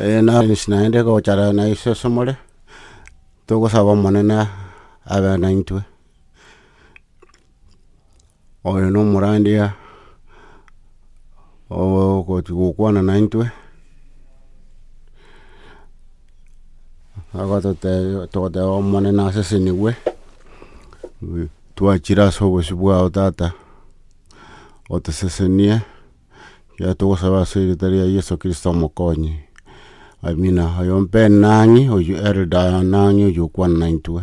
Eena, inche naende gochara na Yeso as'omore, togosaba Omonene abe naintwe. Oyo nomorandia ogochi gokwana naintwe, agototebia togoteba Omonene asesenigwe, twachire as'obosio bwao tata, otosesenie. Ekiagera togosaba ase erita ria Yeso Kristo Omokonyi. Amina. Oyo mpe nang'e oyio Elder nang'e oyio okwana naintwe.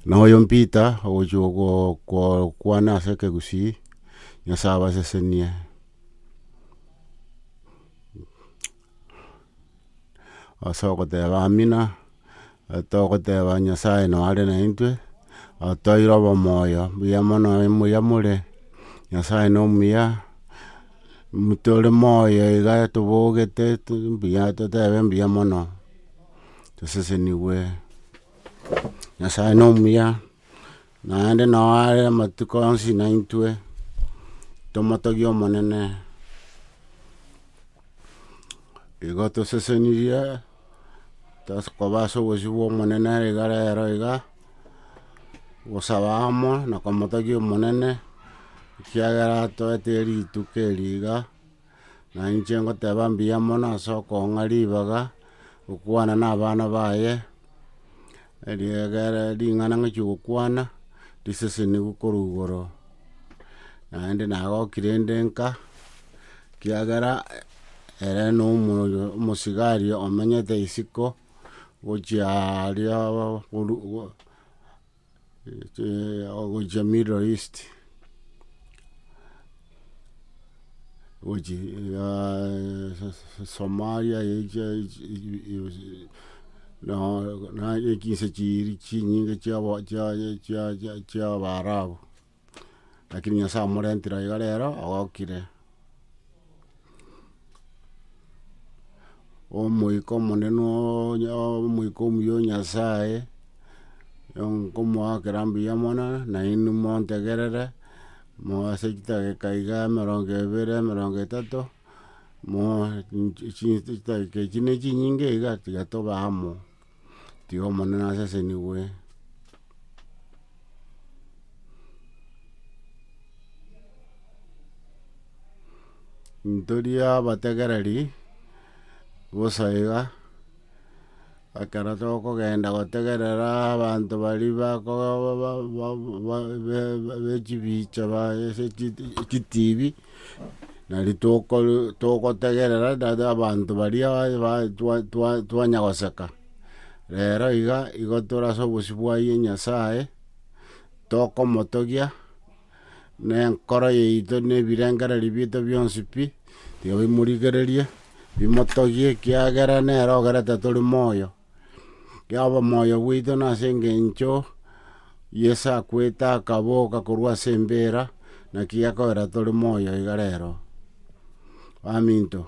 Na oyo Peter ogochia go- go- kwana ase ekegusii, Nyasae abasesenie. ase ogoteba amina, togoteba Nyasaye noo are naintwe, otoeire obomoyo buya mono muya more, Nyasaye no omuya, tore moyo iga tobogete mbuya totebe mbuya mono, tosesenigwe, Nyasaye no omuya. Naende nao are amatuko onsi naintwe tomotogie Omonene, igo tosesenirie tokoba ase obosio bw'Omonene igare ero iga, gosaba amo na komotogia Omonene, ekiagera atoete rituko eri iga. na inche ngoteba mbuya mono ase okong'a ribaga gokwana na abana baye, eriegere ring'ana ng'achia gokwana riseseniwe korwa igoro, naende nagokire inde nka, ekiagera ere na omoyo omosigari omenyete isiko, gochia aria korwa. ogochia middle east, somalia naende chinse chiiri chinyinge chia chia chia chiabarabu. Lakini Nyasae omorentire oo iga rero ogokire omoika omonene oonye omoika omuya o Nyasae, nkomoa kera mbuya mono, nainwe montegerere, moe ase chidageka iga emerongo ebere, emerongo etato, moe nchi- chi- chidageka echi ne chinyinge iga tiga tobe amo. Tiga Omonene asesenigwe. Ntori abategereri bosa iga, ekero tokogenda gotegerera abanto baria bako ba- ba- ba- ba- be- be- bechibicha ba ase echitibi. Nari tokor- togotegerera dada abanto baria ba- ba- twa- twa- twanyagoseka, rero iga igo tore ase obosio bwa ye Nyasaye, tokomotogia na enkoro yaito na ebirengererio biaito bionsi pi, tiga bimorigererie, bimotogie ekiagera nere ogerete tori moyo. y'obomoyo bwaito nase engencho Yeso akwete akaboka korwa ase embeera, naki gekogera tore moyo iga rero. Baminto,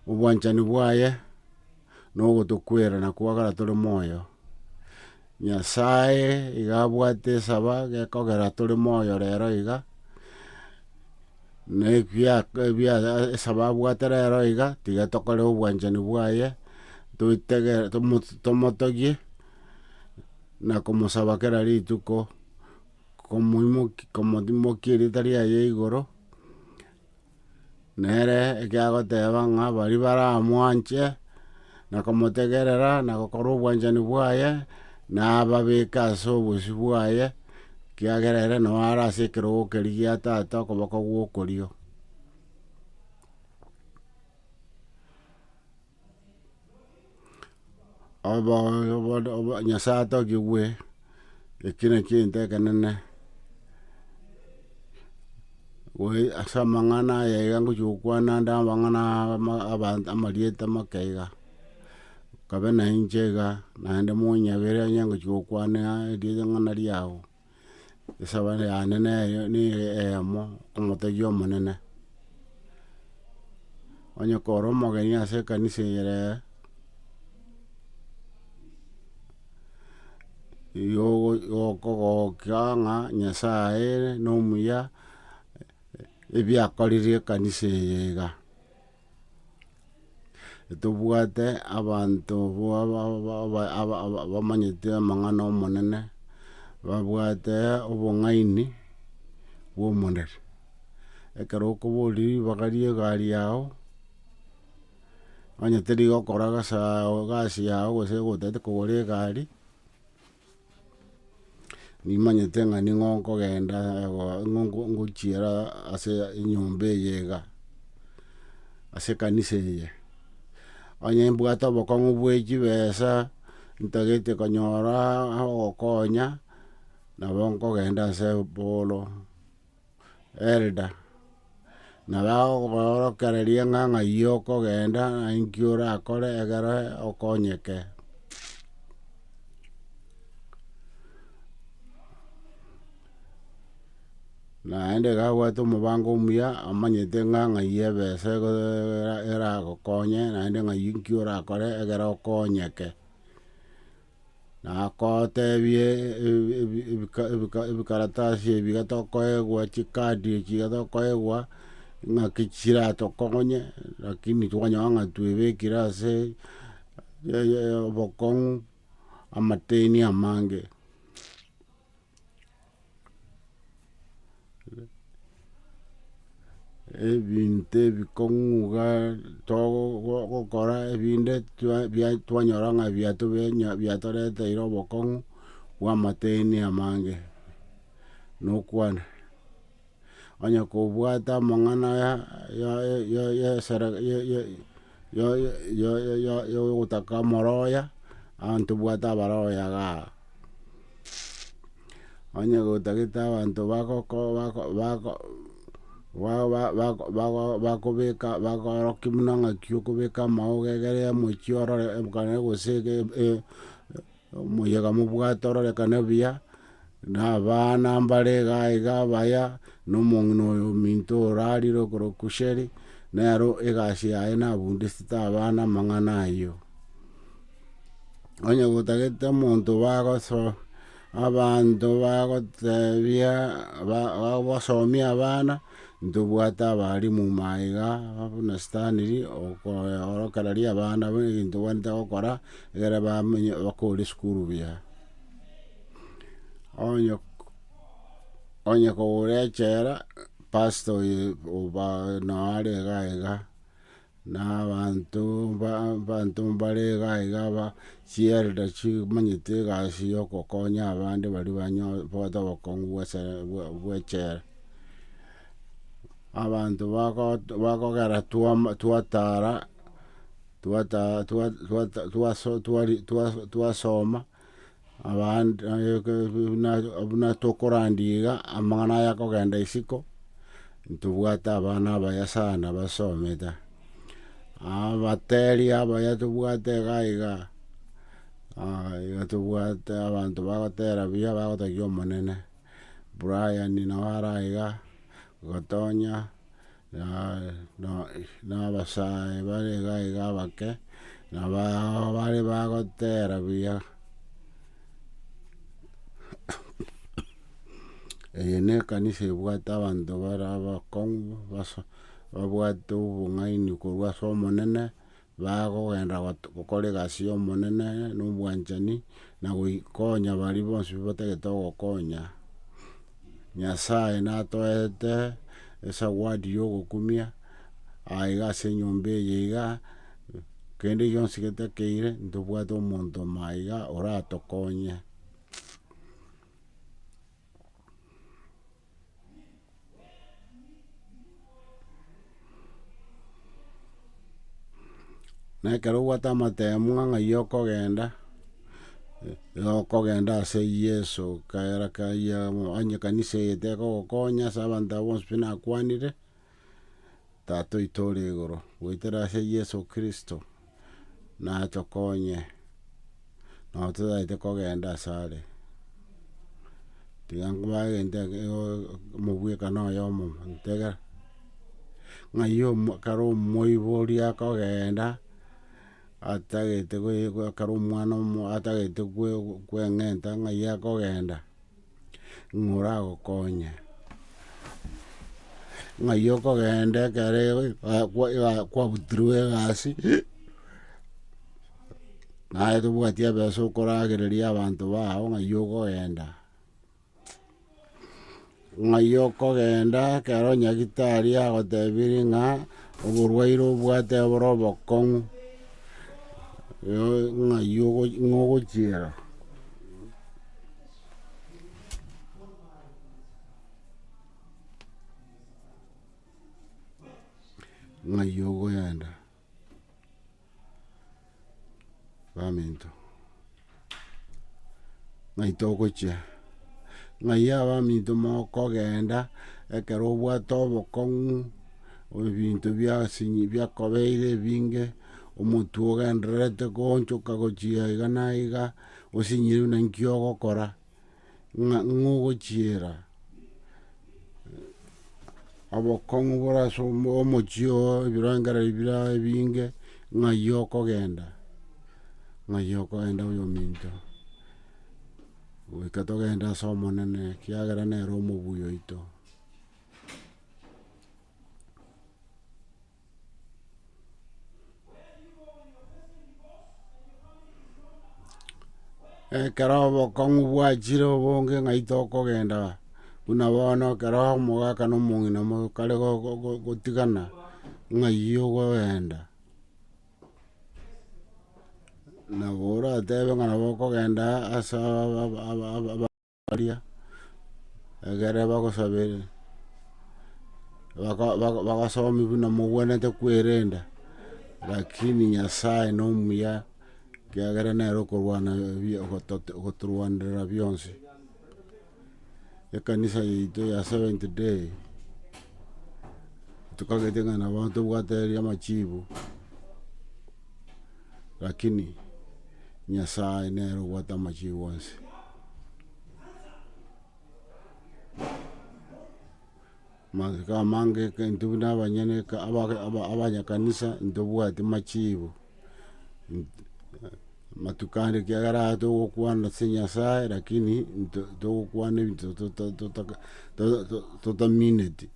obwanchani bwaye nogotokwera na kwagora tore moyo. Nyasae iga abwate esaba gekogera tore moyo rero iga, na ekia ebia esaba abwate rero iga, tiga tokore obwanchani bwaye, toitege tomo tomotogie, na komosaba kera rituko, komoimoki komotimokia erieta riaye igoro, Nere ekiagoteba ng'a baria baramwanche, na komotegerera, na gokora obwanchani bwaye, nababeke ase obosio bwaye, ekiagera ere nao are ase ekerogo keria gia Tata okoboko gw'okorio. Nyasae atokigwe ekio nakio egento ekenene, ase amang'ana aya iga ngochia gokwana nde amang'ana amarieta amake iga, nkabe nainche iga naende monyabera onye ngochia gokwana eriogi ng'a nariao. Esabato yane neye nere eyemo omotebia omonene, onye kore omogeni ase ekanisa eyere, igo ogo- okogokia ng'a nyasaye nomuya, ebiakorire ekanisa eye iga. Tobwate abanto abamanyete amang'ana ’Omonene, babwate obong'aini bw'omondari. Ekero okoboririe ribaga ria egari yao, onye terigokoora egasi yao gose otagete kogora egari. Nimanyete ng'a ning'o nkogenda ngochiera ase enyomba eye iga, ase ekanisa eye. Onye mbwate obokong'u bwe chibesa, ntagete konyora ogokonya, nabo nkogenda ase Apollo, Elda, na bagokoorokereria ng'a ng'ai okogenda na inki orakore ekero okonyeke. Naende iga abwate omobango omuya amanyete ng'a ng'ai ebesa egoe- eragokonye naende ng'ai inki orakore ekero okonyeke. Nagoteebie ebikaratasi ebi iga tokoegwa, chikaadi echi iga tokoegwa, ng'aki chiratokonye, rakini twanyora ng'a twebekire ase obokong'u amateni amange. ebinto ebikong'uga togokora ebinde twa- bia- twanyora ng'a biatobia nya biatoreteire obokong'u bw'amateni amange, nokwana. onye kobwate amang'ana aya yogotaka omoroya, abanto bwate abaroya igaa. Onye gotagete abanto bagoko bako bako bakobeka bakorokia buna ng'aki okobeka amaogo egere ya omochie orore ekero gose Omoyega mobwate ororekane buya, na abana mbare iga iga abaya, na omong'ina oyo ominto orarire okorokwa Kusheri, nero egasi yaye nabundisete abana amang'ana ayio. Onye gotagete omonto bagoso abanto bagotebia ba- bagosomia abana, Ntobwate abaalimu ime iga, buna Stanley, okoorokereria riria abana buna egento tobwenerete gokora, ekero bamenye bakore esukuru buya. Onye onye kogora echela, pastor oye oba noo are igaa igaa, Na abanto abanto mbare iga iga aba chielda chimanyete egasi ya ogokonya abande baria banyo bagote obokong'u bwa ase bwa bwa echela. Abanto bago bagogera twama twatara twata twa twata twaso twari twa twasoma. abande buna tokorandia iga, amang'ana aya akogenda isiko, ntobwate abana abaya sana basomete. Abateri abaya tobwate iga iga, iga tobwate abanto bagotera buya bagotogia Omonene, Brian nao ara iga, Gatonya. na abasae bare iga iga abake, na abao bare bagotera buya. Eye ne ekanisa ebwate abanto bare abakong'u, babwate obong'aini korwa ase Omonene, Bagogenda gokora egasi y'Omonene nobwanchani, na goikonya baria bonsi batagete ogokonya. Nyasae natoete esawadi y'ogokumia, aiga ase enyomba eye iga, kende gionsi getakeire, ntobwate omonto maiga oratokonye. na ekero obwate amatemo ng'a iga okogenda, iga okogenda ase Yeso kera kayio onye ekanisa eye tekogokonya ase abanto abo bonsi pi nakwanire. Tata oito ore igoro, goetera ase Yeso Kristo, natokonye nabo totagete kogenda ase are. Tiga nkobaga egento omobwekano oyomo ntega, ng'ai kare omoibo oria akogenda atagete kare omwana atagete kweng'enta ng'ai akogenda. ng'a oragokonye. Ng'ai okogenda ekero kwabutirwe egasi, naye tobwati ebesa okoragereria abanto bao ng'ai okogenda. Ng'ai okogenda ekero nyagitari agotebirie ng'a oborwaire obwate bore obokong'u, ng'ai ogochiera. Ng'ai ogoenda baminto, ng'ai togochia, ng'ai abaminto mokogenda ekero obwate obokong'u, ebinto biasinyi biakobeire ebinge, omotwe ogendererete goonchoka gochia iga na iga. osinyiirwe naki ogokora, ng'a ng'ogochiera obokong'u bore ase omochie oo, ebirengererio bire aye ebinge, ng'ai okogenda, ng'ai okogenda oyominto, goika togende ase Omonene, ekiagera nere omobuya oito. Ekero obokong'u bwachire obonge ng'ai tokogenda, buna bono ekero omogaka na omong'ina mokare go- go- go- gotigana, ng'ai ogoenda, nabo oratebe ng'a nabo okogenda ase aba- aba- aba- aba. baria egere bagosaberire baka- baka- bagasomia buna mogwenerete kwerenda, rakini Nyasaye na omuya, ekiagera nere okorwana ebiya ogotote ogotorwanerera bionsi. Ekanisa yaito ya seventh day, tokagete ng'a nabo tobwate eria amachibu, rakini Nyasaye nere obwate amachibu onsi. Magega amange eke intwe buna abanyene eke abage aba- abanyakanisa ntobwati machibo, amatuko ande ekiagera aya togokwana ase nyasae lakini nto togokwana ebinto tota totaka to- to- totamineti.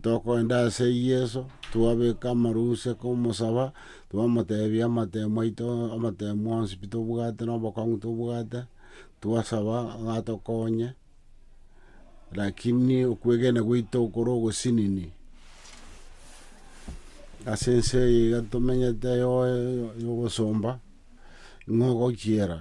Tokoenda ase yeso twabeka amarusia komosaba. Twamoteebia amatemo aito, amatemo onsi pi tobwate na obokong'u tobwate, twasaba ng'a atokonye, rakini okwegena gwaito kore ogosinini, ase ense eye iga tomenyete yoe ya obosomba, ng'o ogochiera.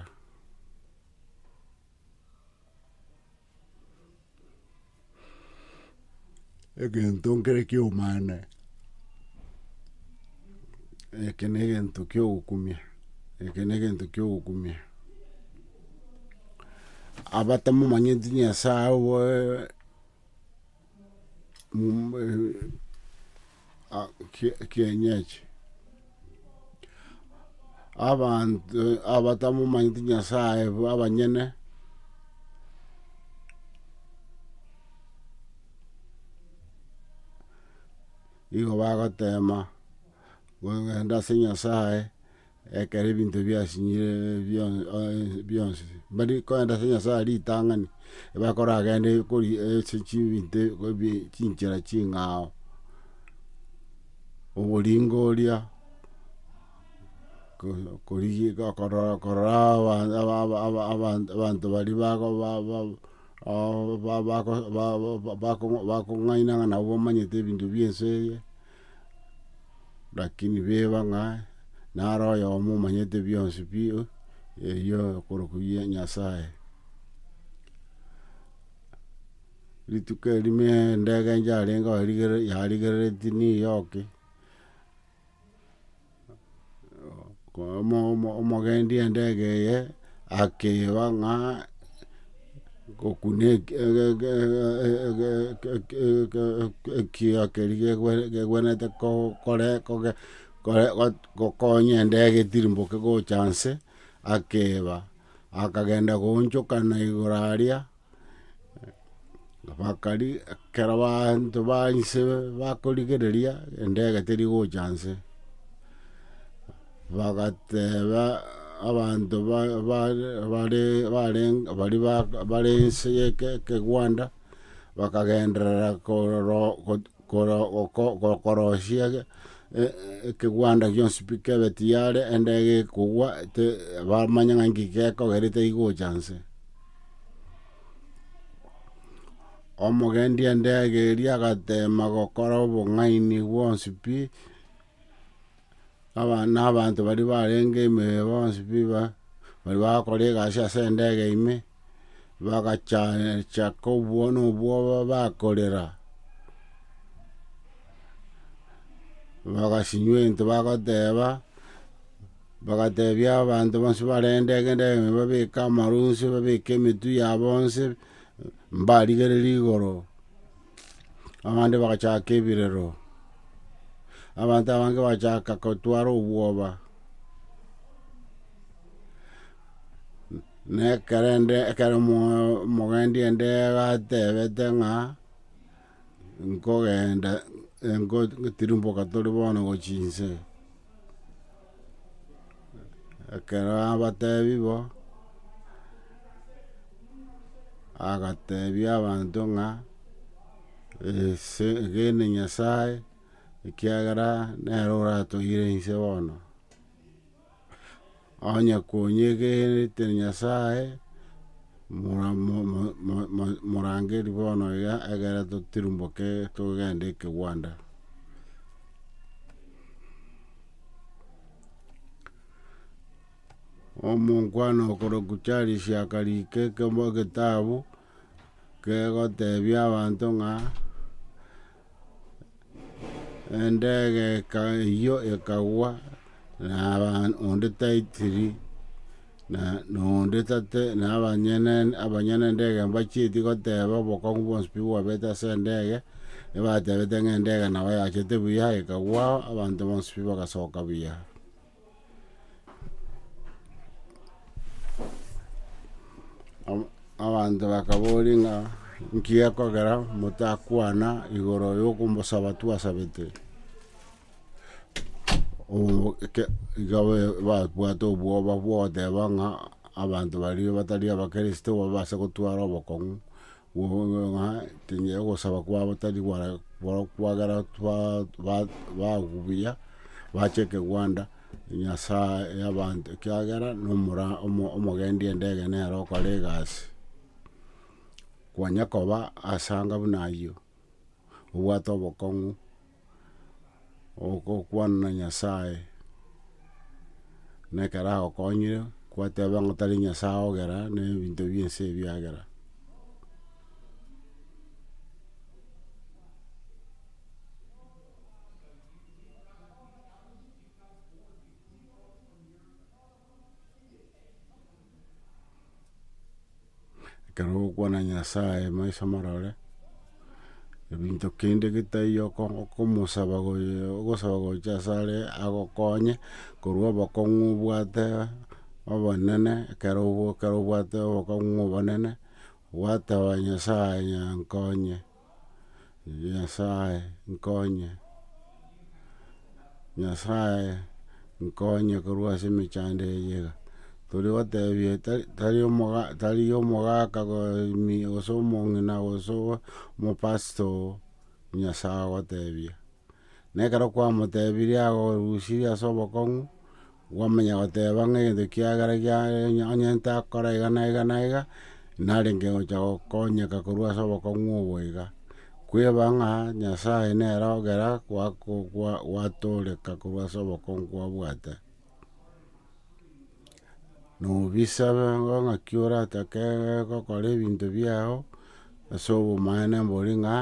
egento nkere kiomana, eke na egento kia ogokumia, eke na egento kia ogokumia. Abatamomanyeti Nyasae kienyeji. Abanto abatamomanyeti Nyasaye abanyene, nigo bagotema kogenda ase Nyasaye. Ekero ebinto biasinyire bionsi, mbari kogenda ase Nyasae ritang'ani, bakora agende kori ase chibinto chinchera ching'ao, oboringo oria, abanto baria bakong'aina ng'a nabo bamanyete ebinto bie ense eye. Lakini beba ng'a nare oyomo omanyete bionsi pi erio okorokwa gie Nyasaye. Rituko eri me endege inche yarenge oo yarigerereti niyoki. omogendi endege eye akeba ng'a gokuna ekioo keria kegwenerete gokonya endege etirimboke gocha nse, akeba, akagenda goonchokana igoro aria. Bakari, ekero baanto ba inse bakorigereria, endege teri gocha inse, bagateeba abanto ba- ba- bare barenge bari bare inse ye ekegwanda, bakagenderera kororo Koro- goko- go- korosia e- e- ekegwanda gionsi pi kebe tiyare ende gekogwa te bamanye ng'a inki gekogera etari gocha nse. Omogendi endege eria agateema gokora obong'aini bwonsi pi. aba- na abanto baria barenge imeo bonsi pi ba- baria bagakora egasi ase endege ime, bagacha- chaka obwo- na obwoba bakorera, bagasinywa ento bagoteba, bagatebia abanto bonsi barenge endege endege ime babeke amarwa onsi, babeke emetwe yabo onsi, mbarigereria igoro. abande bagachaka ebirero, abanto abange bagachaka gotwara obwoba, na ekero ende ekero omo- omogendi ende gatebete ng'a nkogenda engo tirimboka tore bono gochia inse. Ekero abatebi bo, agatebia abanto ng'a egene nyasaye ekiagera nere oratoire inse bono. Onye konyegenete nyasaye, morangeri bono iga egere totirimboke togende ekegwanda. Omonkwana okorokwa Charles akarika ekemo egetabu kegotebia abanto ng'a endegeka eyio ekagwa na onde taitiri. Na noonde tate, na abanyene abanyene nendege mbachieti goteba obokong'u bwonsi pi bwabete ase endege, ebatebete ng'a endege nabo yachete buya, ekagwa, abanto bonsi pi bagasoka buya. Ab- abanto bakaboria ng'a nki gekogera motakwana igoro yokombosaba twasabete? iga babwate obwoba bwogoteba ng'a abanto baria batari abakristo babase gotwara obokong'u ng'a tinyei ogosaba kwabo tari gwara kwagera bagwa buya bache ekegwanda nyasae yabanto ekiagera nomora omogendi ende ege nere okore egasi. Kwanya koba ase anga buna ayio. obwate obokong'u, ogokwana na Nyasaye, na ekero agokonyire kwateba ng'a tari Nyasaye ogera, na ebinto bie ense ebi biagera. Ekero ogokwana Nyasaye maiso marore, ebinto kende getari okomosaba ogosaba gocha ase are agokonye, korwa obokong'u obwate obonene, ekero obwate obokong'u obonene, gwateba Nyasaye nkonye. Erio Nyasae nkonye, Nyasae nkonye korwa ase emechando eye iga, toria gotebia tari tari omoga tari omogaka gose omong'ina gose omopasito oo, Nyasae ogotebia. Na ekero kwamotebirie agorusirie ase obokong'u. Gwamanya goteba ng'a egento kiagera giaye onye ntakora iga na iga na iga, narenge gocha gokonyeka korwa ase obokong'u obo iga. Kweba ng'a Nyasae nere ogera gwako gwa gwatoreka korwa ase obokong'u kwabwate. Nobisabe bono naki oratake gokora ebinto biago. Ase obomaene mbori ng'a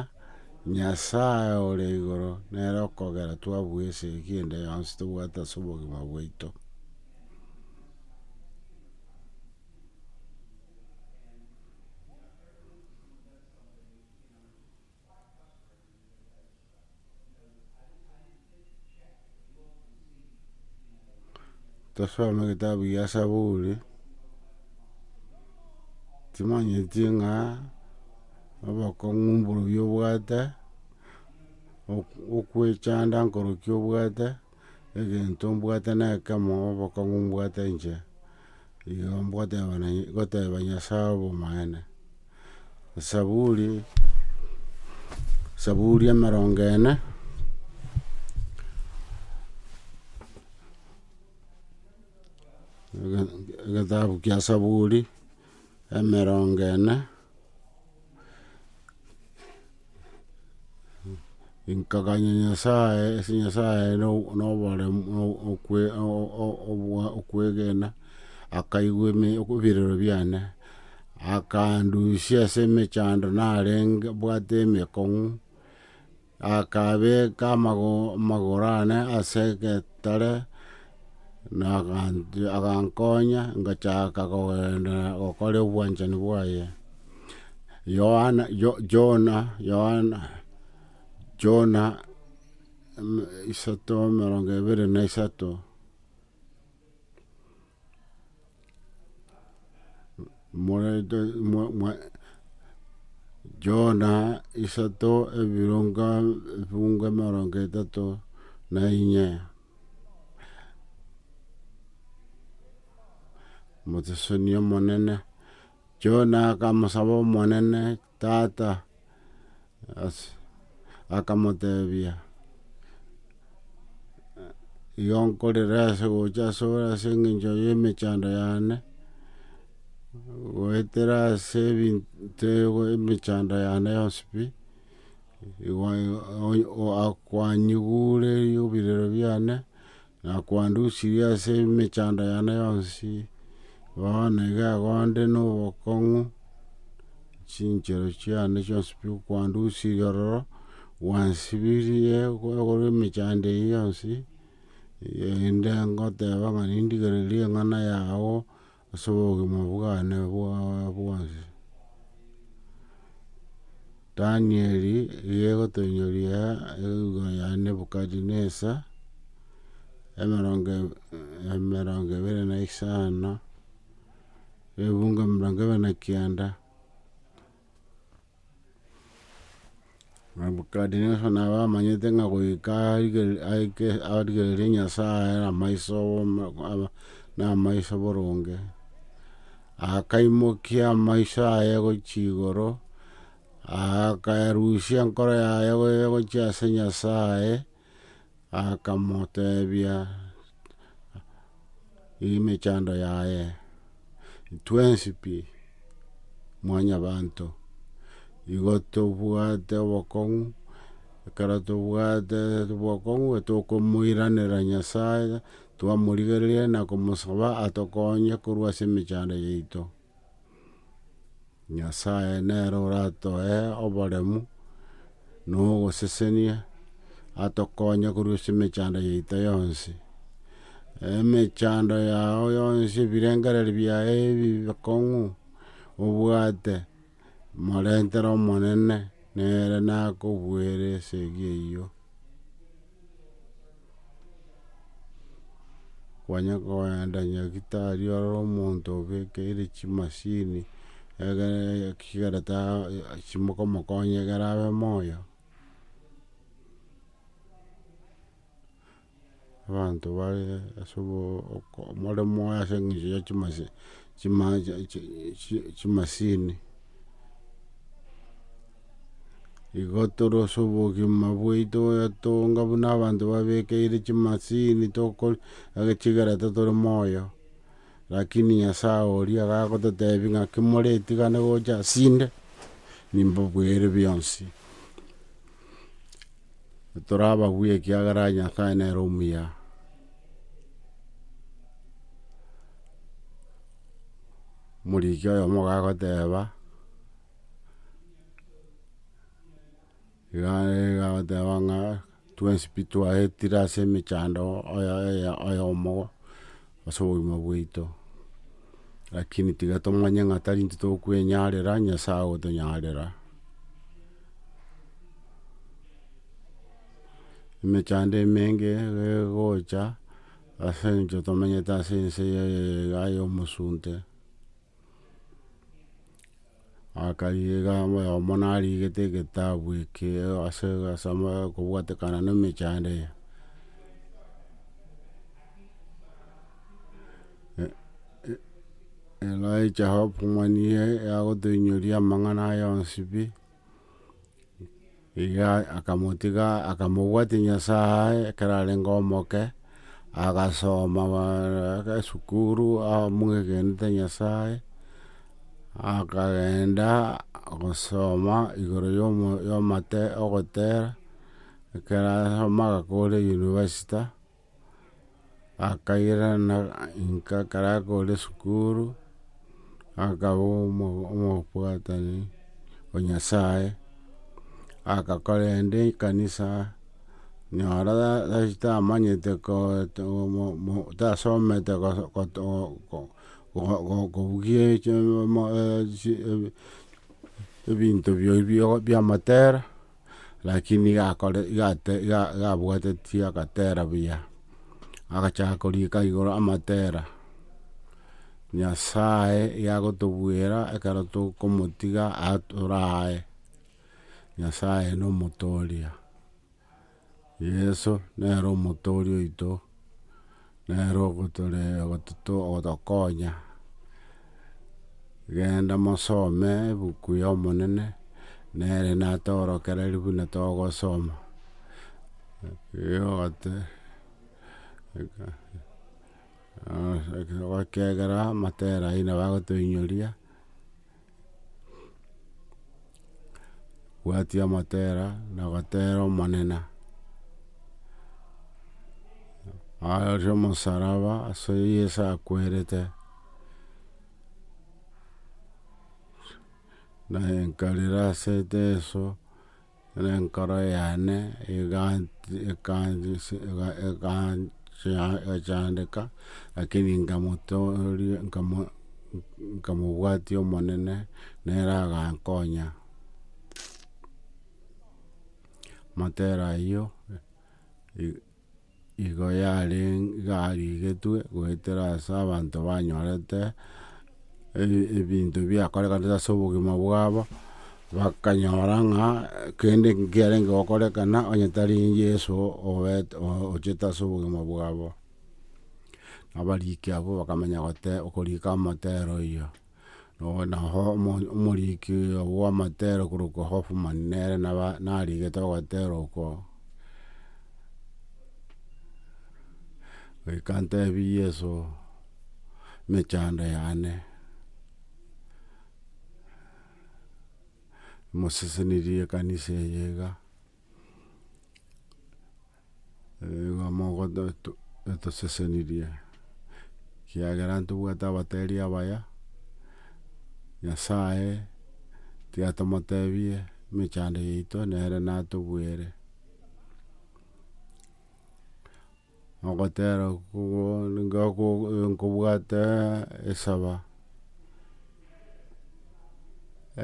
Nyasae ore igoro nere okogera twabua esegi ende yonsi tobwate ase obogima bwaito. Tosome egetabu gia saburi, timanyeti ng'a obokong'u mboria obwate, okwechanda nkorokia obwate. egento mbwate nekemo obokong'u mbwate inche, igo ngoteba na ngoteba Nyasaye obomaene. Esaburi, esaburi emerongo ene, egetabu kia saburi. Emerongo ene, nkaganya Nyasae ase Nyasae na oboremu na okwe okwegena, akaigwa eme ebirero biane, akandusia ase emechando narenge mbwate emekong'u. Akabeeka amagoro aane ase egetare, na agankonya ngachaaka kogenderera gokora obwanchani bwaye. Yohana Jona Yohana Jona isato emerongo ebere na isato. Jona isato ebironga ebiunga emerongo etato na inye motoseseni Omonene. Jona akamosaba Omonene. Tata, ase, akamotebia, igo nkorera ase gocha ase ore ase engencho y'emechando yane, goetera ase ebinto emechando yane yonsi pi, kwanyigure ebirero biane. Na kwandusirie ase emechando yane yonsi, bono iga igo nde nobokong'u, chinchera chiane chionsi pi okwandusirie ororo, gwansibirie korwa emechando eye yonsi, inde ngoteba ng'a nindigererie eng'ana yao Ase obogima bwane bwabwonsi. Danieli nigo ogotonyoria eluga ya Nebukadirenesa, emerongo ebere na isano, ne ebungo emerongo ebere na kianda. Nebukadineso nabo amanyete ng'a goika aigere- aike- arigerere Nyasae amaiso na amaiso boronge, akaimokia amaiso aye gochia igoro, akaerusia enkoro yaye gochia ase Nyasae. Akamoteebia, Eye emechando yaye, twensi pi mwanyabanto, igo tobwate obokong'u, ekero tobwate obokong'u tokomoiranera Nyasaye, twamorigereria na komosaba atokonye korwa ase emechando yaito. Nyasae nere oratoe oboremu na ogosesenia, atokonye korwa ase emechando yaito yonsi. Emechando yao yonsi ebirengererio biaye ebi bikong'u, obwate, morentere Omonene, nere nakobuere esegi eyio. Kwanya koenda nyagetari ore omonto obekeire chimasini egere ekegera ta chimokomokonya egere abe moyo. Abanto bare ase more moyo ase eng'encho ya chimasi chima chimasini. Igo tore ase obogima bwaito goyetonga buna abanto babekeire chimasini agechigera totore moyo. Rakini Nyasaye oria gagototebi ng'aki more tigane gocha asinde, nimbobuere bionsi. Tore abagwe ekiagera Nyasaye nere omuya. Omoriki oyomo gagoteba. Egoteba ng'a twensi pi twaetire ase emechando oyomo ase obogima bwaito, lakini tiga tomanye ng'a tari intwe tokwenyarera, Nyasaye ogotonyarera. Emechando emenge egocha ase eng'encho tomenyete ase ense eye iga yomosunte. Akarigereria oyomo narigete egetabu eke ase kobwatekana ne emechando eye Elijah Hoffman niye agotoinyoria amang'ana aye onsi pi. Iga akamotiga akamobwatia Nyasaye ekero arenge omoke, agasoma esukuru amwegenete Nyasaye, akagenda gosoma igoro yomo yomate ogotera, ekero asoma agakora eyunivasita. akairana inka ekero akore esukuru, akaba omobwatani o nyasaye, agakora ende ekanisa, nyora tamanyete tasomete kobugia ebinto bia matera. Lakini iga akore iga ate iga iga abwatetie agatera buya, agachaka korika igoro amatera, Nyasaye iga agotobwera ekero tokomotiga aa toraye, Nyasaye na omotoria. Yeso nere omotoria oito. Nere ogotore ogotokonya, genda mosome ebuku y'Omonene, nere natorokererie buna togosoma. ekiagera amatera aye nabo agotoinyoria. Gwatia motera na gotera omonene, arorio omosaraba ase Yeso akwerete, naye nkarera ase Yeso. Na enkoro yane egachandeka, lakini nkamotooria nkamobwatia Omonene, nere agankonya. Amatera ayio. Igo yarigetwe goetera ase abanto banyorete ebinto biakorekanete ase obogima bwabo, bakanyora ng'a kende nkiarenge gokorekana onye tari Yeso ochete ase obogima bwabo. Abariki abwo bakamenya goteba okorika amotero oyio. Naho omoriki bw'amatera okorokwa Hoffman nere narigete ogotera oko, goika ntebie Yeso emechando yane, mosesenirie ekanisa eye iga. Igo mogoto to- etosesenirie, ekiagera ntobwate abatari abaya, Nyasaye tiga tomotebie emechando yaito, nere natobwere. Ogotera kogo ninga kogo nkobwate esaba.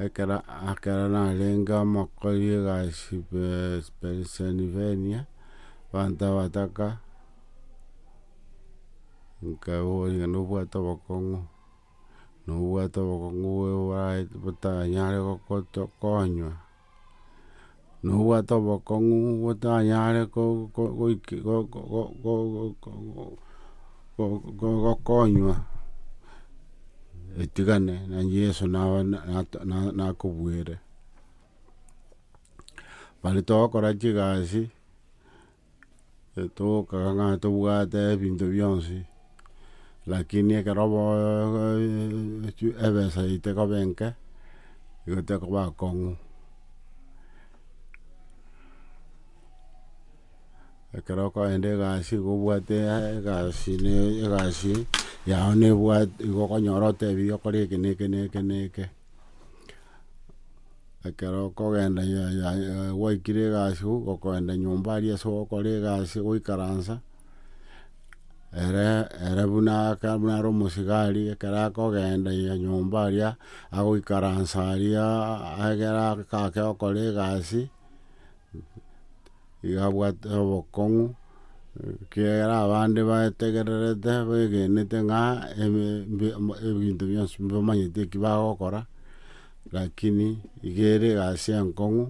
Ekero ekero narenge omokori egasi Pennsylvania, abanto abataka, nkaboria nobwate obokong'u, nobwate obokong'u bwa bwa botanyare gokoto konywa. nobwate obokong'u otanyare gokonywa etigane na Yeso nakobuere. Baria togokora chigasi. Tokang'ana tobwate ebinto bionsi, lakini ekero ebesa yaito ekoba enke, nigo tekoba akong'u. Ekero okoenda egasi nigo obwate egasi ne egasi yao nebwate nigo okonyora otebie okore eke na eke na eke na eke. Ekero okogenda ya- ya- ya- gwaikire egasi igo ogokoenda nyomba aria ase ogokora egasi goikaransa, ere ere buna aka buna are omosigari ekero akogenda ya nyomba aria, agoikaransa aria, ekero agake gokora egasi. iga abwate obokong'u, ekiagera abande baetegererete begenete ng'a ebinto bionsi mbamanyeti eki bagokora, rakini iga ere egasi enkong'u,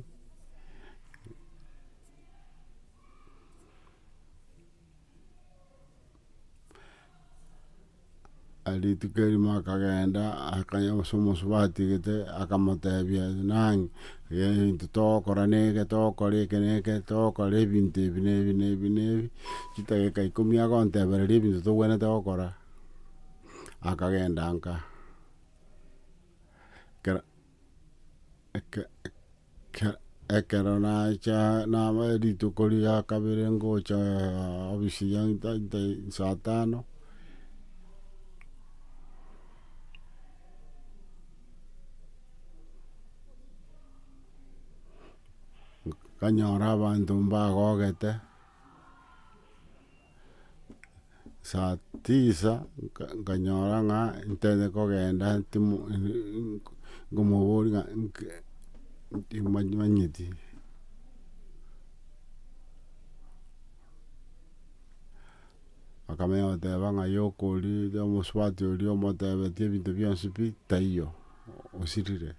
rituko erimo akagenda akaya ase omosubati gete akamotebia nang'e egento togokora neke togokora eke na eke togokora ebinto ebi na ebi na ebi na ebi chidageka ikomi agontebereria ebinto togwenerete gokora akagenda nka ekero. ekero nacha naba rituko ria kabere ngocha obisi ya saa tano, nkanyora abanto mbagogete. saa tisa nkanyora ng'a ntete kogenda nkomoboria ng'a timanyeti. Akamanya goteba ng'a yokoria oria omosubati oria omotebetie ebinto bionsi pi taiyo osirire.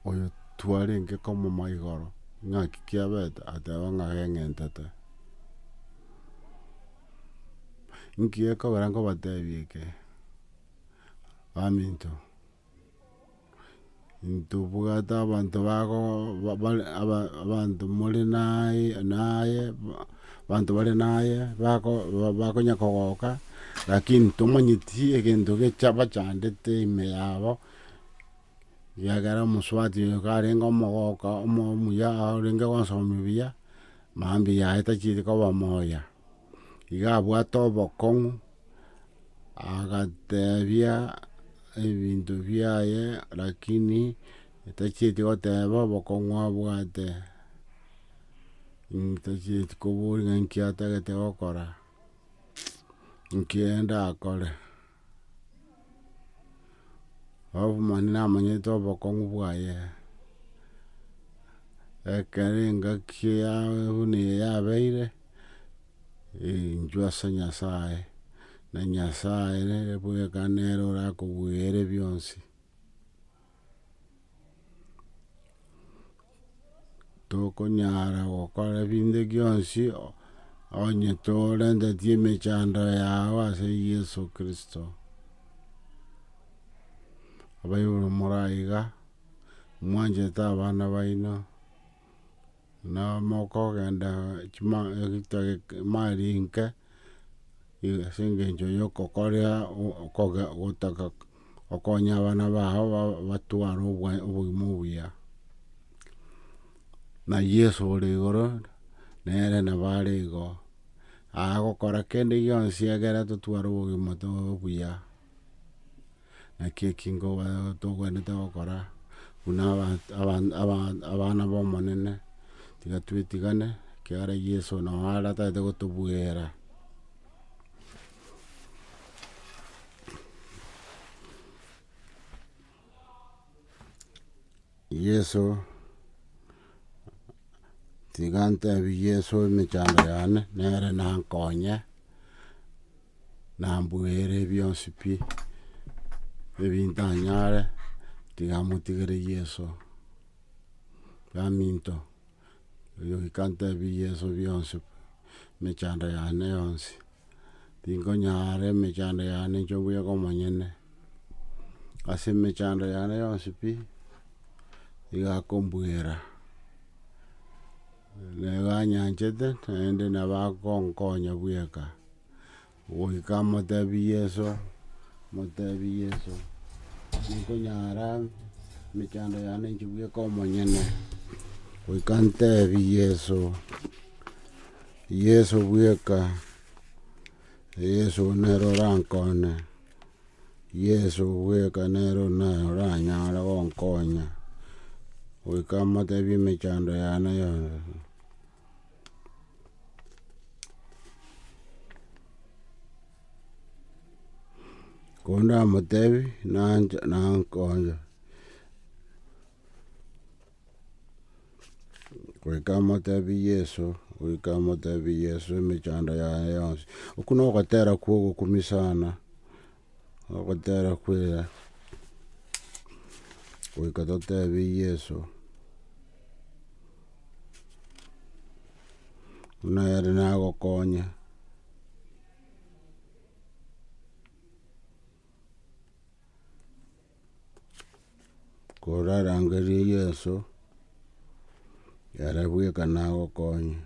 oyo twarenge komoma igoro, ng'aki kiabete? Ateba ng'a keng'entete. Inki gekogera nkobatebie eke? Baminto, ntobwate abanto bago abanto more naye naye. Abanto bare naye bakonya kogoka, lakini tomanyeti egento bachandete ime yabo, ekiagera omosubati oyo nigo arenge omogoka omuya orenge gosomia buya, mambia yaye tacheti koba moya. Igo abwate obokong'u, agatebia ebinto biaye lakini tacheti goteba obokong'u abwate. Ntachieti koboria ng'a inki atagete gokora, inki enda akore. Alafu mani namanyete obokong'u bwaye, ekero engaki ya buna eye yabeire, inchwe ase Nyasaye, na Nyasaye nere bweka nere orakobuya ere bionsi. tokonyara gokora ebinto bionsi onye torentetie emechando yao ase Yeso Kristo. Abaibori moraiga, mwanchete abana baino. na mokogenda chima emari enke ase engencho ya okokoria gotaka okonya abana bao batware obogima obuya. Na Yeso ore igoro nere nabo are igo, agokora kende gionsi egere totware obogima obuya. Naki eki tokwenerete gokora buna abana b'Omonene, tiga twetigane, ekiagera Yeso nao aratagete gotobuera. Yeso, tiga ntebi Yeso emechando yane nere nankonye, nambuere bionsi pi, ebintanyare, tiga motigere Yeso. Baminto, oyio goika ntebi Yeso bionsi, emechando yane yonsi. Tinkonyaara emechando yane inche mbuyaka omonyene, ase emechando yane yonsi pi, nigo akombwera, nigo anyanchete naende nabo akonkonya bweka, goika motebi Yeso, motebi Yeso, tinkonyara emechando yane inche bweka omonyene, goika ntebi Yeso, Yeso bweka, Yeso nere orankone, Yeso bweka nere oranyare gonkonya, goika motebie emechando yane yonsi. Koba ndamotebia nancha nankonya. Goika amotebie Yeso, goika amotebie Yeso emechando yaye yonsi. Okwo na ogotera kwa ogokumi sana, ogotera kwega. Goika totebie Yeso, buna ere nagokonye, korarangerie Yeso, ere bweka nagokonye.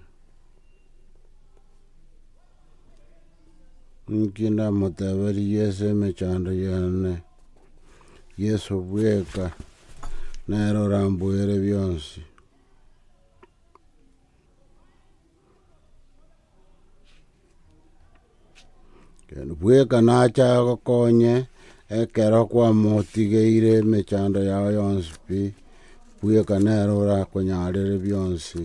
Nki ndamoteberie Yeso emechando y'ane, Yeso bweka nere orambwoere bionsi. Bweka nache agokonye ekero kwamotigeire emechando yao yonsi pi, bweka nere orakonyarere bionsi.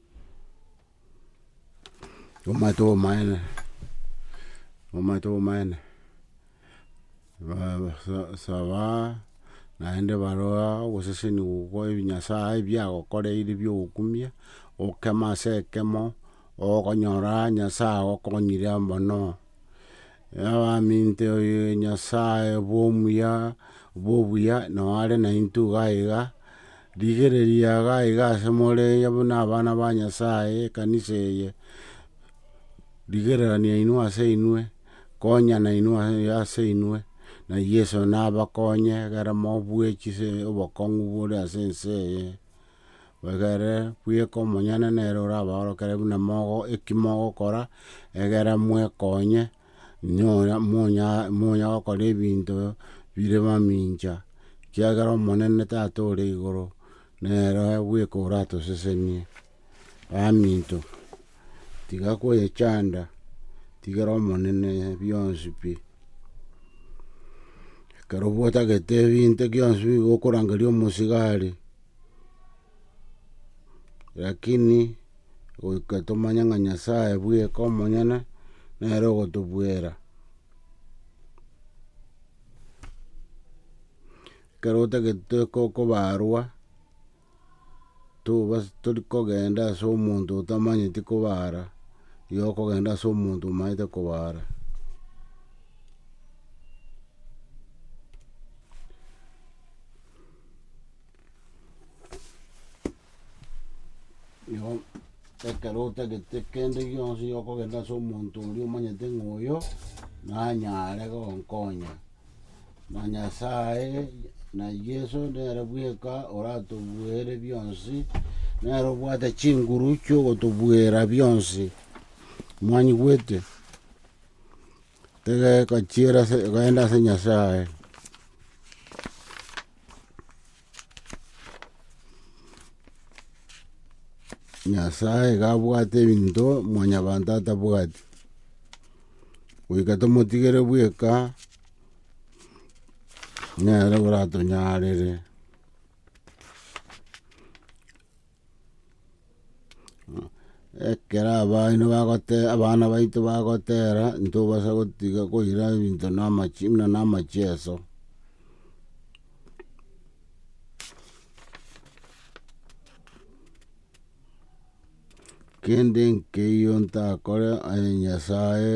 Omanyete obomaene, omanyete obomaene, saba naende baroa ogoseseni gokwa ebinyasae ebiagokoreire bia ogokumia, okeme ase ekemo, okonyora nyasae agokonyire mono. Abaminte oye nyasae bwo omuya bwo obuya nao are naintwe iga iga. Rigereria gaiga ase more iga buna abana ba Nyasae, ekanisa eye, rigererania inwe ase inwe, konyana inwe ase inwe, na Yeso nabakonye egere mobue chise obokong'u bore ase ense eye, egere bweka omonyene nere orabaorokere buna mogo eki mogokora egere mwekonye monya gokora ebinto bire mamincha, ekiagera Omonene Tata ore igoro, nere bweka oratosesenie. Baminto, tiga kweyechanda, tigera Omonene bionsi pi. Ekero bwotagete ebinto bionsi bi gokorangeria omosigari. Rakini goika tomanye ng'a Nyasae bweka omonyene nere ogotobwera. Ekero otagete ko- kobarwa, toba tori kogenda ase omonto otamanyeti kobara, igo okogenda ase omonto omanyete kobara. Igo ekero otagete kende gionsi okogenda ase omonto oria omanyete ng'a oyo nanyare gonkonya, na Nyasaye na Yeso nere bweka oratobuere bionsi, nere obwate chinguru chiogotobuera bionsi, mwanyigwete? Egegochiera ase egoenda ase Nyasae. Nyasae iga abwate ebinto mwanyabanto atabwati. Goika tomotigere bweka nere oratonyarire. Ekero abana bagote abana baito bagotera ntobasa gotiga koira ebinto na amache buna na amacheso. Kende nkeiyo ntakore aye Nyasaye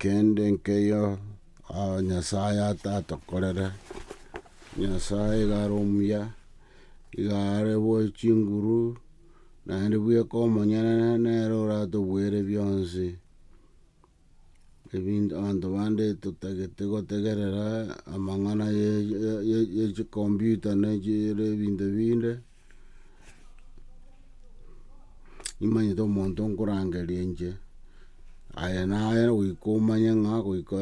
Kende nkeyio Nyasae atatokorere, Nyasae iga are omuya, iga are bwe chinguru, naende bweka omonyene nere oratobuere bionsi. Ebinto abanto bande totagete gotegerera amang'ana ye ye ye ye chikombiuta ne chire ebinto ebinde. Nimanyete omonto nkorangeria inche, aye naye goika omanye ng'a goika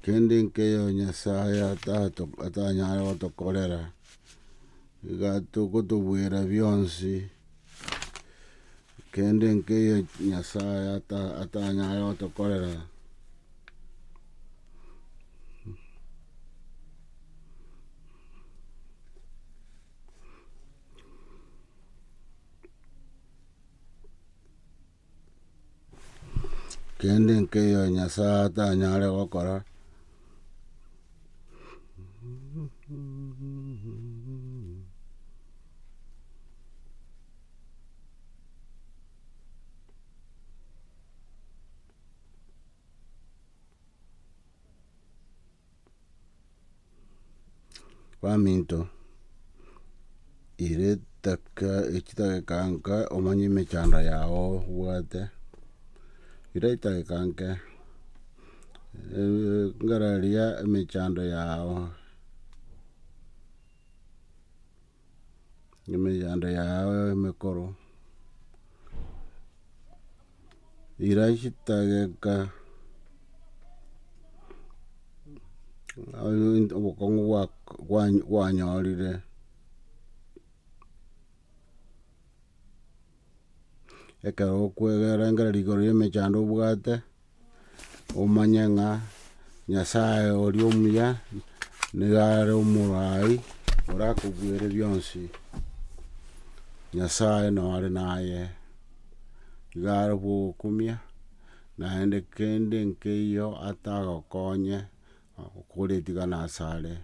Kende nkeiyo Nyasae atato- atanyare gotokorera, iga tokotobwera bionsi. Kende nkeiyo Nyasae atanyare gotokorera, kende nkeiyo Nyasae atanyare gokora, baminto ere etaka echidageka nka omanye emechando yago obwate, ere edageka nke ngararia emechando yago. emechando yao emekoro, ira chitageka obokong'u bwa- bwanyorire ekero okwegera engaki rigoro y'emechando obwate. omanye ng'a Nyasae oria omuya nigo are omoraai orakobuere bionsi, Nyasae nore naye, iga are bwogokumia, naende kende nkeiyo atagokonye Okogora etigana asare,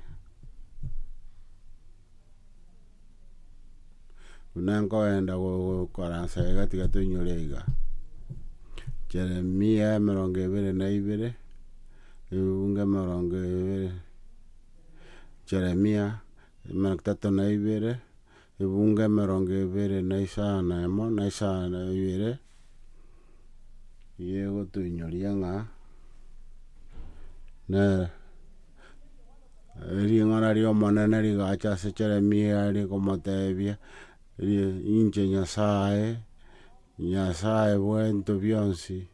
buna nkoenda gokaransa iga tiga toinyore iga, Jeremia emerongo ebere na ibere, ebungo emerongo ebere, Jeremia emerongo etato na ibere. ebungo emerongo ebere na isano na emo na isano na ibere, eyio egotoinyoria ng'a nere ring'ana ri'omonene rigacha ase Jeremia rikomotebia, Inche Nyasae, Nyasae bw'ebinto bionsi.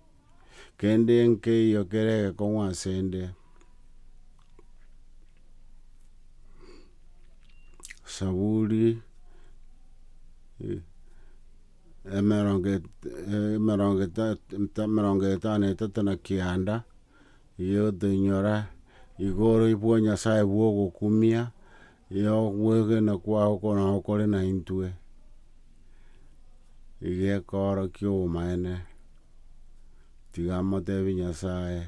Kende nkeiyo kere egekong'u ase 'nde. Saburi emerongo emerongo emerongo etano na etato na kianda, erio toinyora, Igoro bwo Nyasae bwogokumia, Ee, okwegena kwao nao kore naintwe, egekoorokia obomaene, tiga moteebie Nyasae,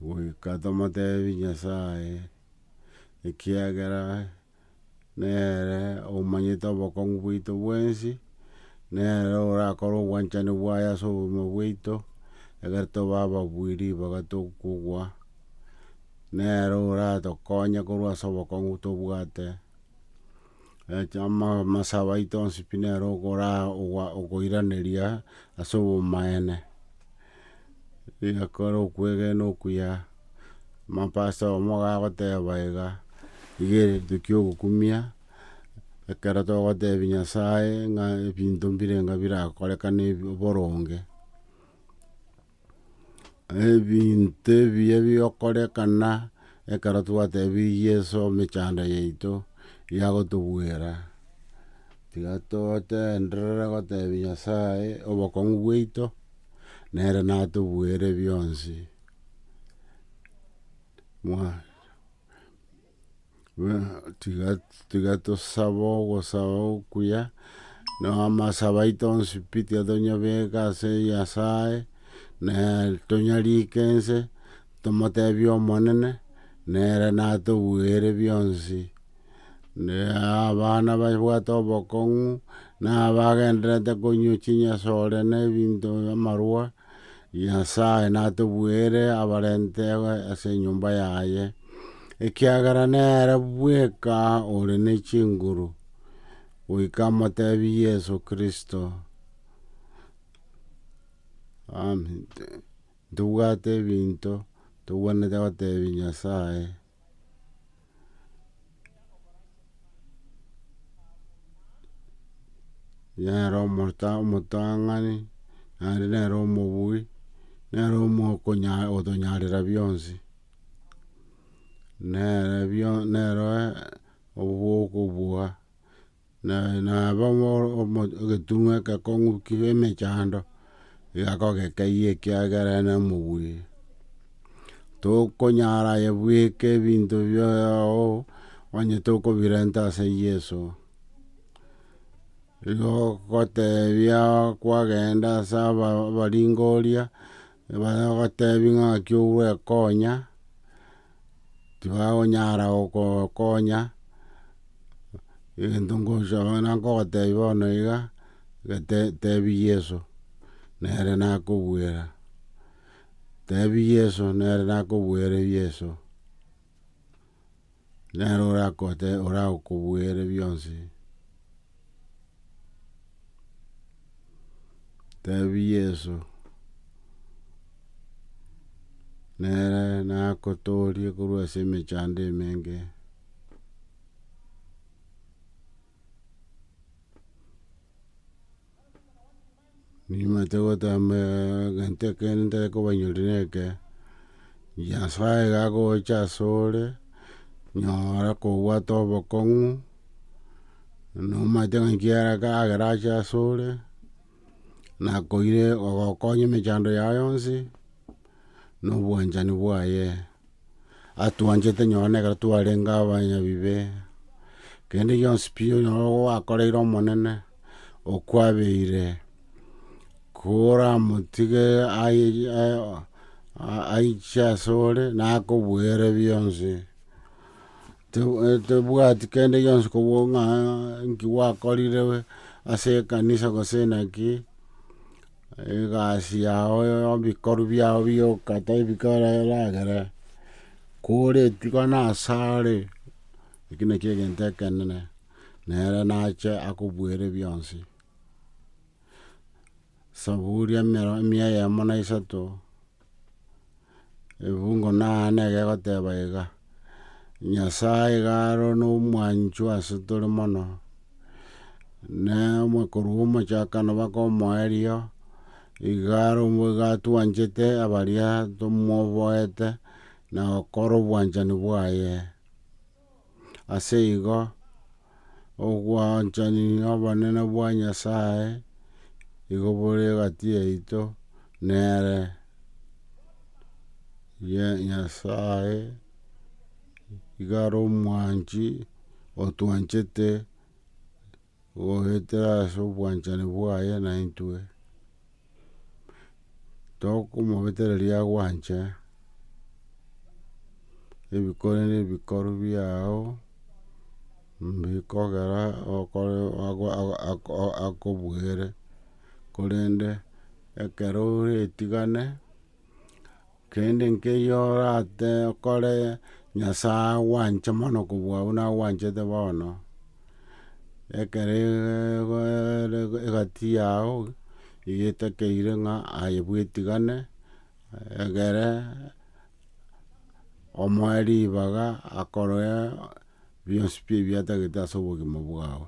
goika tomoteebie Nyasae, ekiagera. nere omanyete obokong'u bwaito bwensi, nere orakore obwanchani bwaye ase obogima bwaito, ekero toba ababui ribaga tokogwa, nere oratokonye korwa ase obokong'u tobwate, amasabo aito onsi pi nere okora okoiraneria ase obomaene. Egakora okwegena okuya, amapasa oyomo gagoteba iga, iga rituki ogokumia, ekero togotebi Nyasaye ng'a ebinto mbirenga birakorekane ebi boronge. Ebinto ebiya bigokorekana ekero twatebirie Yeso emechando yaito yagotobwera, tiga totenderere gotebi Nyasaye obokong'u bwaito. nere natobuere bionsi. tiga tiga tosaba ogosaba okuya, na amasabo aito onsi pi tiga tonyabeka ase Nyasaye, na tonyarike ense, tomotebie Omonene, nere natobuere bionsi. Abana babwate obokong'u, na abagendererete konywa chinyasore na ebinto amarwa, Nyasae natobuere abarente ase enyomba yaye, ekiagera nere bweka ore ne chinguru, goika amotebi Yeso Kristo. Amen. Ntobwate ebinto tobwenerete gotebi Nyasae. nere omota omotang'ani, naende nere omobui, nere omokonya otonyarera bionsi. Nere bio nere obogokobuga. Na nabo egetung'a egekong'u kia emechando egakogeka eyio ekiagera nomobui. Tokonyara aye bweka ebinto biao onye tokobirenta ase Yeso. Igo ogotebia kwagenda ase abaringoria Ekero ogotebi ng'aki ogwekonya, tibakonyara gokonya, egento nkosoa nkogotebi bono iga, gete tebi Yeso, nere nakobwera, tebi Yeso nere nakobwera Yeso. Nere orakote orakobuere bionsi. Tebi Yeso, nere nakotorie korwa ase emechando emenge. Nimanyete gotamba egento ekeene ntari kobanyori na eke. Nyasae iga agocha asore, nyora kobwate obokong'u, nomanyete ng'a ekiagera kagera ache asore, nakoire ogokonya emechando yago yonsi, nobwanchani bwaye, atwanchete nonye nekero twarenge abanyabibe, kende gionsi pi onye gwakoreire Omonene, okwabeire, koramotige aiche ase ore nakoboere bionsi, tebwati kende gionsi kobua ng'a nki gwakorire ase ekanisa gose naki. Egasi yao nebikorwa biao bioka tebika eragere, kore etuko nasare, eki nakio egento ekenene, nere nache akobuere bionsi. Saburi emero emia eyemo na isato. Efungo naane egegoteba iga, Nyasae iga aro nomwanchwa ase tore mono, na korwa omochakano mpaka omoerio, iga aro iga atwanchete abaria tomoboete na gokora obwanchani bwaye. Ase igo, obwanchani nobonene bwa Nyasae igo bore egati yaito nere, Nyasae igo are omwanchi otwanchete. Goetera ase obwanchani bwaye naintwe, tokomobetereria agwanche, ebikone na ebikoru biao mbikogera okore akobuere, korende ekero ore etigane. Kende nkeyio orate okore, Nyasae agwanche mono kobua buna agwanchete bono, ekero egati yao iga etakeire ng'a aye bwetigane, egere omoe ribaga akoroe bionsi pi ebiatagete ase obogima bwao.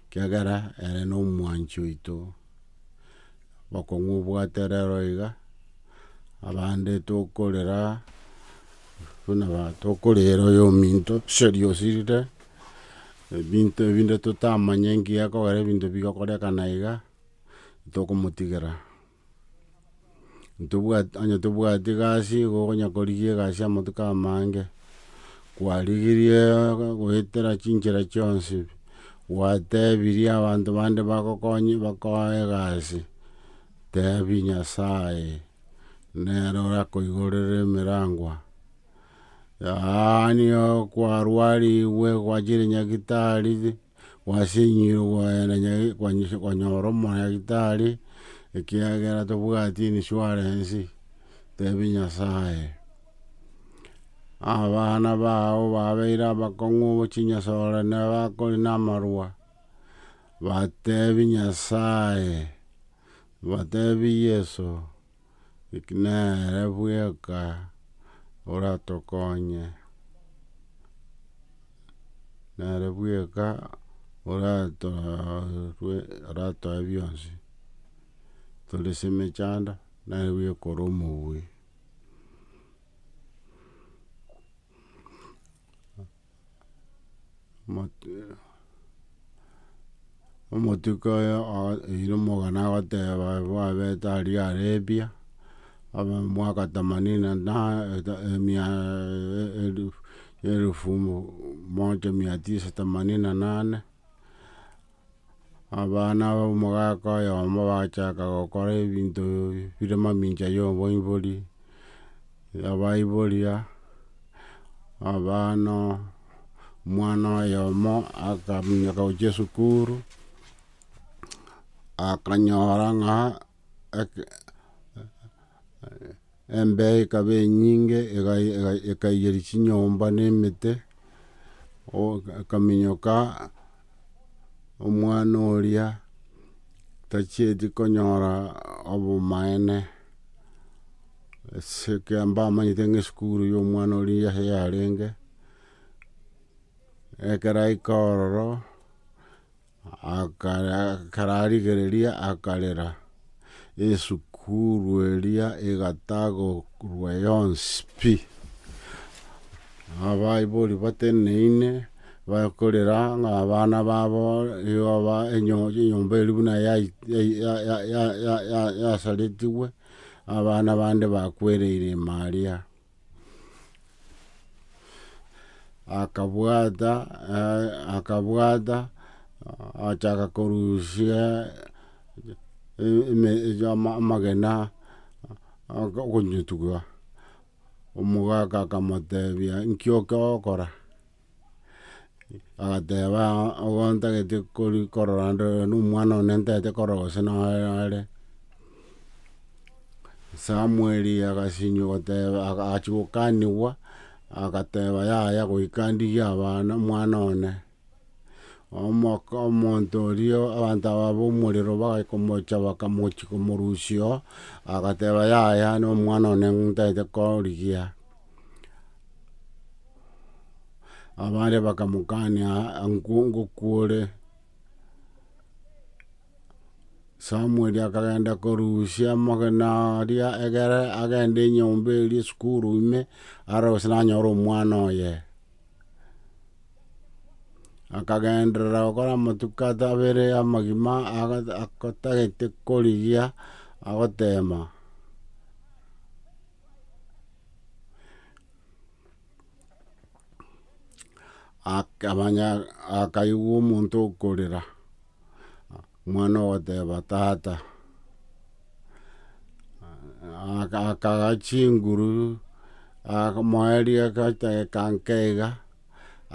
Kiagera ere nomwanchi oito, okong'u obwate rero iga, abande tokorera buna ba tokorera oyo ominto seria osirire, ebinto ebinde totamanye nki akogera ebinto bigokorekana iga, tokomotigera. Ntobwati onye tobwati egasi nigo okonya korigia egasi amatuko amange, kwarigirie goetera chinchera chionsi, gwatebirie abanto bande bagokonye bakoe egasi, tebi Nyasaye nere orakoiborera emerangwa. Yaani okwarwarigwe gwachire nyagetari. Gwasenyire ogoenda nyare konyora omodaktari, ekiagera tobwati insurance, tebia Nyasaye. Abana bao babeire abakong'u chinyasore na bakore na amarwa, batebia Nyasaye, batebia Yeso. Eki nere bweka oratokonye, nere bweka oratoe bionsi, tore ase emechando nere bweka ore omobui. Omotuko oyo oire omogano agoteba bwabete aria arabia, abe mwaka themanini na mia elufu moja mia tisa themanini na nane. Abana b'omogaka oyomo bagachaka gokora ebinto bire mamincha y'oboibori, abaiboria, abana, omwana oyomo akaminyoka gochia esukuru, akanyora ng'a Embee ekaba enyinge, ekaiyeria chinyomba na emete, akaminyoka omwana oria tachieti konyora obomaene, ase ekero mbamanyete ng'a esukuru ya omwana oria niyo yarenge, ekero aika ororo. Akararigereria akarera, esukuru eria egatagorwa yonsi pi. Abaibori bateneine bakorera ng'a abana babo igo enyomba eria buna yasaretigwe, abana bande bakwereire ime aria. akabwata eh, akabwata achaka korusia e- eme- e- ama- amagena oko- okonyotua omogaka akamotebia nki oke okora Agateba, Ontagete kori- korora ndore na omwana one ntagete korora gose noe are. Samueli agasinywa goteba aga- achia gokanigwa, agateba yaya goika ndigie abana omwana one. Omoko omonto oria abanto aba ba omorero bagaika omocha bakamochia komorusia oo, agateba yaya na omwana one ntagete korigia. Abande bakamokania ngwo ngokwore. Samueli akagenda korusia amagena aria egere agende enyomba eria esukuru ime arore gose nanyora omwana oye. Akagenderera gokora amatuko abere amagima agotagete korigia agotema. Akamanya akaigwa omonto okorera, omwana ogoteba tata, akagaa chinguru akomoa riagachake ekanke iga,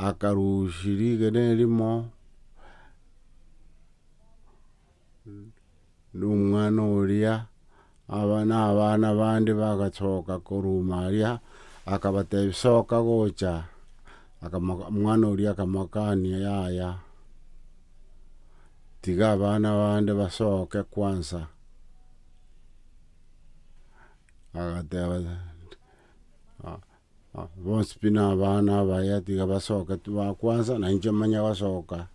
akarusia rigena erimo. Nomwana oria nabana bande bagasoka korwa ime aria, akabatebia, Soka gocha. Omwana oria akamokania, Yaya, tiga abana bande basoke kwansa. Agateba Bonsi pi nabana abaya, tiga basoke tibakwansa, na inche manye gosoka.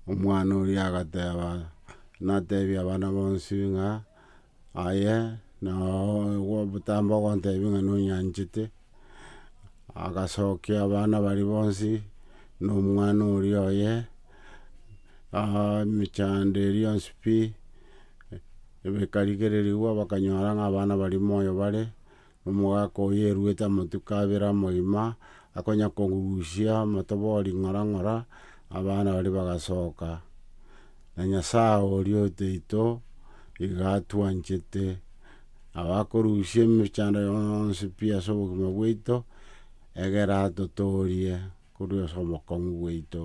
Omwana oria agateba, natebia abana bonsi ng'a. Aye nao obotambe ogontebia ng'a nonyanchete, agasokia abana baria bonsi na omwana oria oye, emechando eria yonsi pi, ekarigererigwa bakanyora ng'a abana baria moyo bare. Omogaaka oyio eruete amatuko abere amoima, akonya kogusia omotoba o ring'ora ng'ora, abana baria bagasoka. Na Nyasae oria otoito iga atwanchete, nabo akorusia emechando yonsi pi ase obogima bwaito, egere atotoorie korwa ase obokong'u bwaito.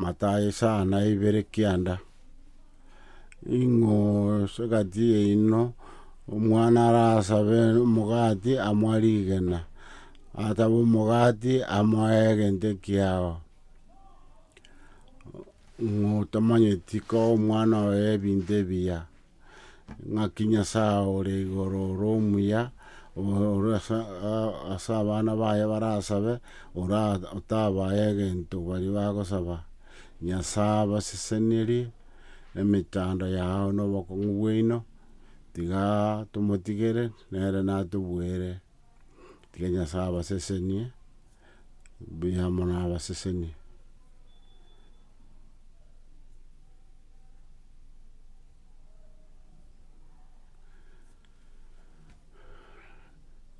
Matayo esaa na ibere kianda, ing'oo egati yaino, omwana arasabe omogati amoa rigena, atabe omogati amoa egento ekiao, ng'oo tamanyeti koo omwana oye ebinto ebiya. ng'aki Nyasae ore igoro ore omuya, ore ase abana baye barasabe, ora otabae egento baria bagosaba. Nyasae abasesenirie emechando yao na obokong'u bwaino, tiga tomotigere nere natobuere. Tiga Nyasae abasesenie, mbuya amo nabasesenie.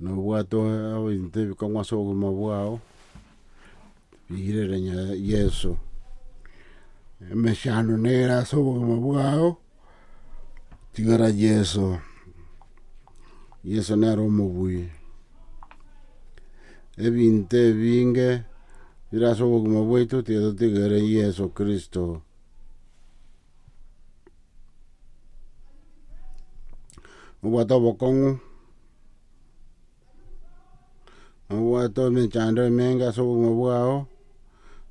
Nobwate ebinto ebikong'u ase obogima bwao. Rigereria Yeso, emechando nere ase obogima bwao, tigara Yeso, Yeso nere omobui. Ebinto ebinge bire ase obogima bwaito tiga totigere Yeso Kristo. Obwate obokong'u. nobwate emechando emenge ase obogima bwao,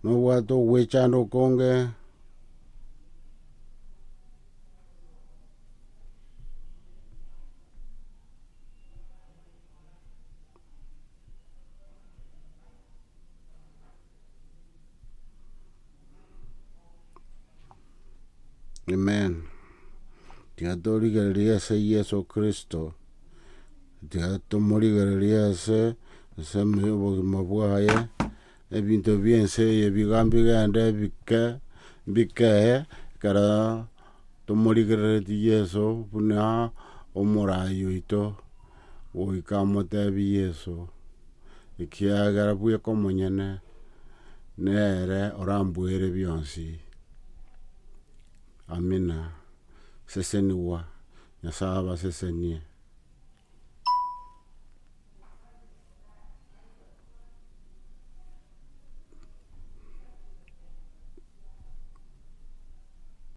nobwate ogwechanda okonge, Amen. Tiga torigereria ase Yeso kristo, tiga tomorigererie ase ase obogima bwaye, ebinto bie ense eye biga mbigende bike bikee, ekero tomorigereretie Yeso buna omoraai oito. Goika amoteebie Yeso, Ekiagera bweka omonyene nere oramboere bionsi. Amina. Sesenigwa, Nyasae abasesenie.